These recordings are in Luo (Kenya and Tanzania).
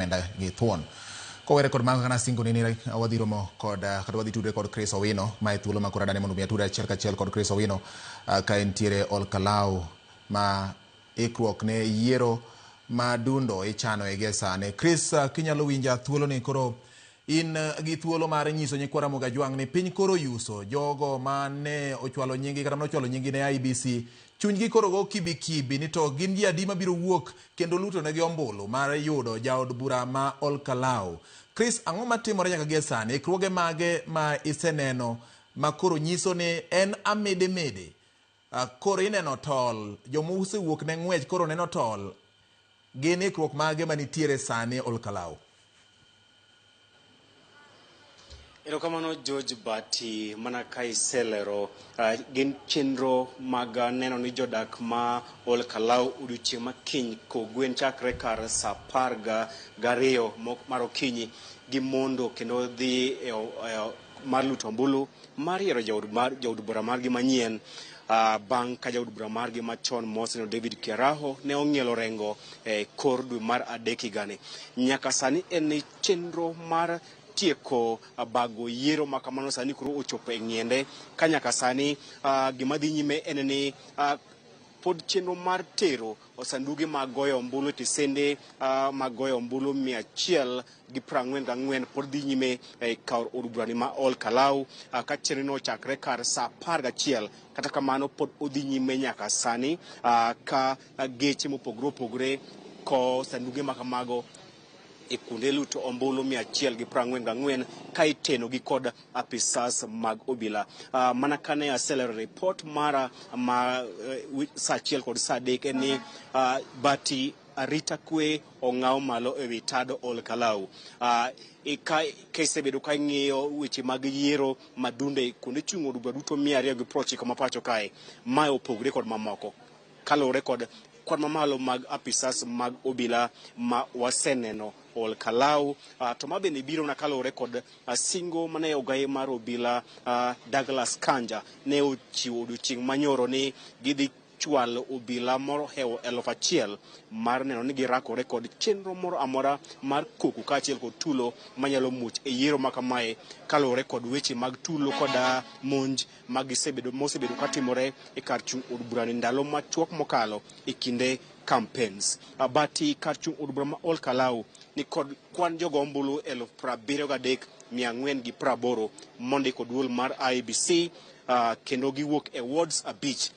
omenda gi thuon. Kowere kod mago kana singo ni ni wadhi romo kod ah, kata wadhi tudre kod Chris Owino ma e thuolo ma koro adane mondo mi atudre achiel kachiel kod Chris Owino ah, ka entiere Olkalau ma ikruok ne yiero ma dundo ichano e gie sani. Chris, ah, kinyalo winja thuolo ni koro In gi thuolo mar nyiso nyikwa Ramogi Ajwang' ni piny koro oyuso. Jogo ma ne ochwalo nyingi kata nochwalo nyingi ne IBC, chunygi koro go kibi kibi ni to gin ji adi mabiro wuok kendo lutonegi ombulu mar yudo jaod bura ma Olkalau. Chris, ang'o matimore nyaka gie sani? Ikruoge mage ma iseneno ma koro nyiso ni en amidi midi Ah, koro ineno tol. Joma osewuok ne ng'wech koro neno tol. Gin ikruok mage ma nitiere sani e Olkalau? Erokamano George Bati, mana ka iselero uh, gin chenro mag uh, neno ni jodak ma Ol Kalau odiochieng' ma kiny kogwen chakre kar sa apar gariyo mar okinyi gimondo kendo dhi e, e, mar luto ombulu mar yiero jaod mar jaod bura margi manyien ah, bang' ka jaod bura margi machon moseno David Kiaraho ne ong'ielo rengo e kor dwe mar adek higani. Nyaka sani en e chenro mar tieko ah, bago yiero ma kamano sani koro ochopo e ng'iende ka nyaka sani ah, gima dhi nyime en ni ah, pod chenro mar tero sanduge mag goyo ombulu e tesende ah, mag goyo ombulu mia achiel gi prang'wen gang'wen pod dhi nyime e kar od burani ma Ol Kalau ah, ka chenro no ochakre kar saa apar gachiel kata kamano pod odhi nyime nyaka sani ah, ka ah, geche mopogore opogore kowo sanduge ma kamago e kuonde luto ombulu mia achiel gi prang'wen gang'wen ka iteno gi kod apisas mag obila Ah, mana kane aselero report mara ma eh, wi- saa achiel kod saa adek en ni ah, bati arita kwe ong'aw malo e wi tado Ol Kalou. Ah, e ka kisebedo ka ing'iyo weche mag yiero madunde kuonde chung' od bura duto mia ariyo gi piero ochiko ma pacho kae, mae opogore kod mamoko kaluwore kod kwan mamalo mag apisas mag obila ma waseneno Ol Kalou. Ah, to ma bende biro na kaluwore kod ah, singo mane ogaye mar obila ah, Douglas Kanja ne ochiwo odiochieng' manyoro ni gidhi chwal obila mohewo eluf achiel mar neno ni girakore kod chenro moro amora mar koko kaachiel kod tulo manyalo muoch e yiero ma kamae kaluwore kod weche mag tulo koda monj magisebedo mosebedo katimore e kar chung' od burani ndalo machuok mokalo e kinde campaigns abati kar chung' od bura ma Ol Kalou ni kod kwan jogo ombulu eluf prabiriyo gadek mia ang'wen gi praboro mondiko duol mar IEBC uh, kendo giwuok e wards abich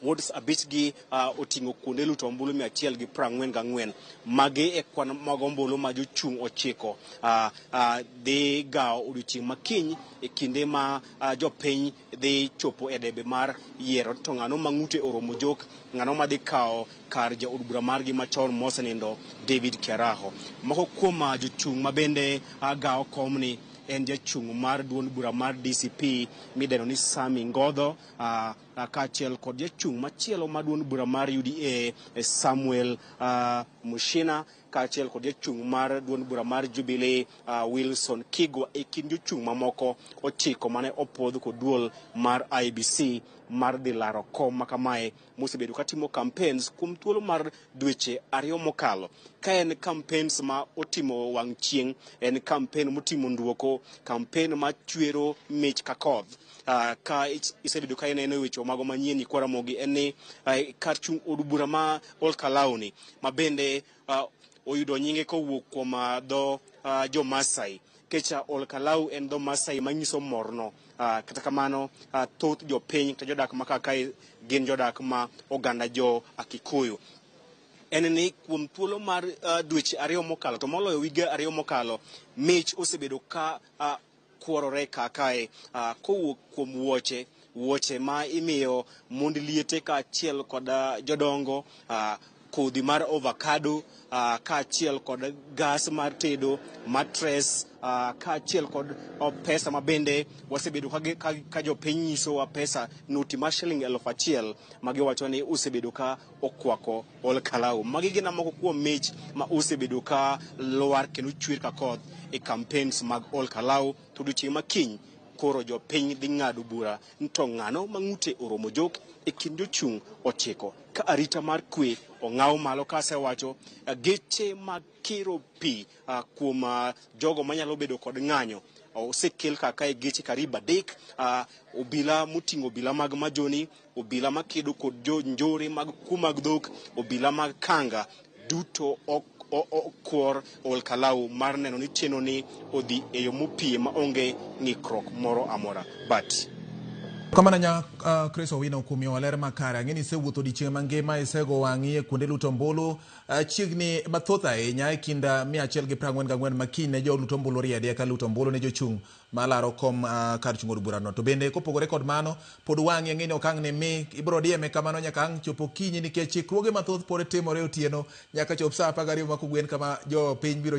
wards abich gi uh, oting'o kuonde luto ombulu mia achiel gi prang'wen gang'wen magi e kwan mag ombulu ma jochung' ochiko uh, uh, dhi gawo odiochieng' makiny e kinde ma uh, jopiny dhi chopo e debe mar yiero to ng'ano ma ng'ute oromo jok ng'ano ma dhi kawo kar jaod bura margi machon mosenindo David Keraho moko kuom uh, jochung' ma bende uh, gawo komni en jachung' mar duond bura mar DCP mideno ni Sami Ngodho ah, ah, kaachiel kod jachung' machielo mar duond bura mar UDA eh, Samuel ah, Mushina kaachiel kod jachung' mar duond bura mar Jubilee ah, Wilson Kigwa e kind jochung' mamoko ochiko mane opwodh kod duol mar IBC mar dhi laro kom makamae mosebedo ka timo campaigns kuom thuolo mar dweche ariyo mokalo ka en campaigns ma otimo wang' chieng' en campaign motimo nduoko campaign ma chwero mich ka koth uh, ka isebedo ka ineno e weche mago manyien ikwaramogi en ni uh, kar chung' od bura ma olkalawni ma bende oyudo nyinge kowuok kuom ah, dho ah, jo Masai kech ah, Ol Kalau en dho Masai manyiso morno. Ah, Kata kamano ah, thoth jopiny kata jodak ma kar kae gin jodak ma oganda jo ah, Kikuyu en ni kuom thuolo mar uh, dweche ariyo mokalo to moloyo wige ariyo mokalo mich osebedo ka uh, kuorore kakae ah, kowuok kuom wuoche wuoche ma imiyo mond liete kaachiel kod ah, jodongo ah, kodhi mar ovakado ah, kaachiel kod gas mar tedo matres ah, kaachiel kod oh, pesa ma bende wasebedo ka gi- ka- ka jopiny nyisowa pesa noti mar shiling elfu achiel ma giwacho ni osebedo ka okwako Ol Kalou. Magi gina moko kuom mich ma osebedo ka lwar kendo chwer ka koth e campaigns mag Ol Kalou to odiochieng' ma kiny koro jopiny dhi ng'ado bura ni to ng'ano ma ng'ute oromo jok e kind jochung' ochiko ka arita mar kwe ong'aw malo ka asewacho eh, geche mag kiro pi ah, kuom ah, jogo manyalo bedo kod ng'anyo osekel kaka e geche karibu adek ah, obila moting'o obila mag majoni obila makedo kod jo njore mag kuo mag dhok, obila mag kanga duto ok o- o- okwor ol kalau mar neno ni chenro ni odhi e yo mopie maonge ng'ikruok moro amora. But Kamana nya uh, Chris Owino kuom miyowa ler makare. Ang'e ni isewuotho odiechieng' mangima, isego wang'i e kuonde luto ombulu uh, chiegni mathoth ahinya e kind uh, mia achiel gi piero ang'wen gang'wen ma kiny ne joluto ombulu oriedi eka luto ombulu ne jochung' ma laro kom kar chung od burano. To bende kopogore kod mano, pod wang'i ang'e ni ok ang' ni mi, ibiro dieme kamano nyaka ang' chop okinyi nikech ikruoge mathoth pod timore otieno nyaka chop saa apar gariyo ma kogwen kama, jo piny biro chako.